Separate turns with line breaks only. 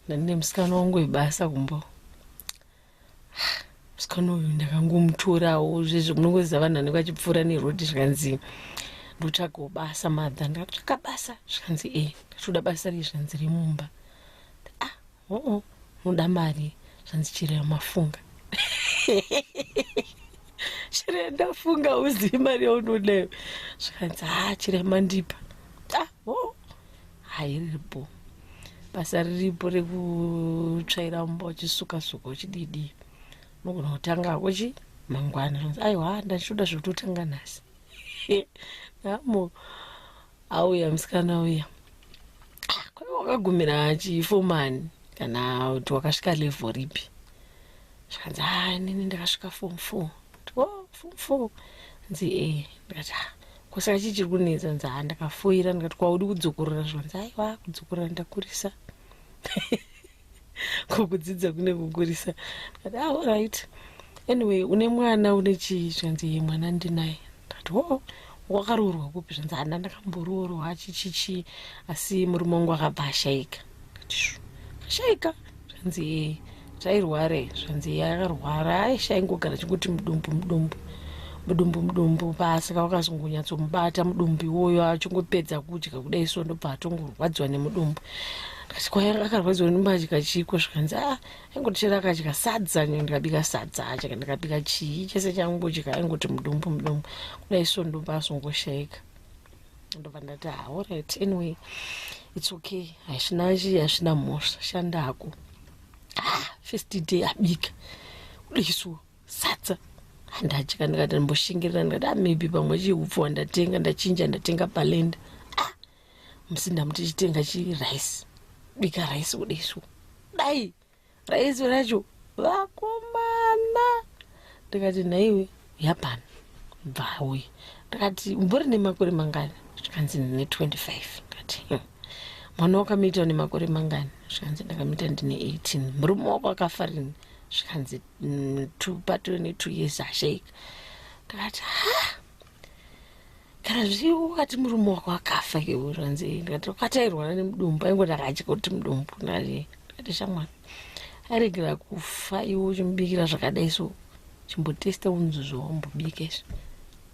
ndandine musikana wangu webasa kumbo musikana uyu ndakangomutorawo zvezvo munongoziva vanhu vanenge vachipfuura nerodi zvikanzi ndotsvagawo basa madha ndakatsvaga basa zvikanzi e ndatoda basa rei zvikanzi remumba Uh-uh, unoda mari zvanzi chirera mafunga chirera ndafunga uzivi mari yaunodayo zvikanzi ha chirera mandipa ah, oh. hairipo basa riripo rekutsvaira mumba uchisuka suka uchididii unogona kutanga hako chi mangwana aiwa ndachitoda zvekutotanga nhasi namo auya musikana uya kwaiva wakagumira chifomani kana kuti wakasvika level ripi zvikanzi ha inini ndakasvika form four o oh, form four nzi e ndikati ha kusaka chii chiri kunetsa nzi ha ndakafoira ndikati kwaudi kudzokorora zvanzi aiwa kudzokorora ndakurisa ko kudzidza kune kukurisa ati ah, all right anyway une mwana une chii zvikanzi ye mwana ndinaye ndati oo oh, wakaroorwa kupi zvanzi hana ndakamboroorwa achichichii asi murume wangu akabva ashaika ashaika zvanzi ee zvairwara i zvanzi iye akarwara aishaingogara chikuti mudumbu mudumbu mudumbu mudumbu pasaka wakazongonyatsomubata mudumbu iwoyo achingopedza kudya kudai so ndobva atongorwadziwa nemudumbu kachikwaya kakarwadziwa nembatya chiko zvikanzi a ah, aingoti chero akadya sadza nyo ndikabika sadza acha ndikabika chii chese changudya aingoti mudumbu mudumbu kudai so ndumbu asongoshaika ndobva ndati ha ah, orit anyway its okay hazvina chii hazvina mhosva shanda hako ah, first day abika kudaisuo sadza handadya ndikati ndimboshingirira ndikati ah, maybe pamwe chii upfuwa ndatenga ndachinja ndatenga palenda musi ndamuti chitenga chirice bika rice udesu dai rice racho vakomana ndikati nhaiwe yapani bvauye ndikati umbori nemakore mangani zvikanzi ndine 25 ndikati hmm. mwana wakamiita une makore mangani zvikanzi ndakamiita ndine 18 murume wako akafa rini zvikanzi mm, patove ne two years ashaika ndikati ha kana zvii ukati murume wako akafa keuri hanzi ndikati ukatairwana nemudumbu aingo ndakatya kuti mudumbu ndati ndati shamwari aregera kufa iwe uchimubikira zvakadai so chimbotesta unzi zvawambobika izvi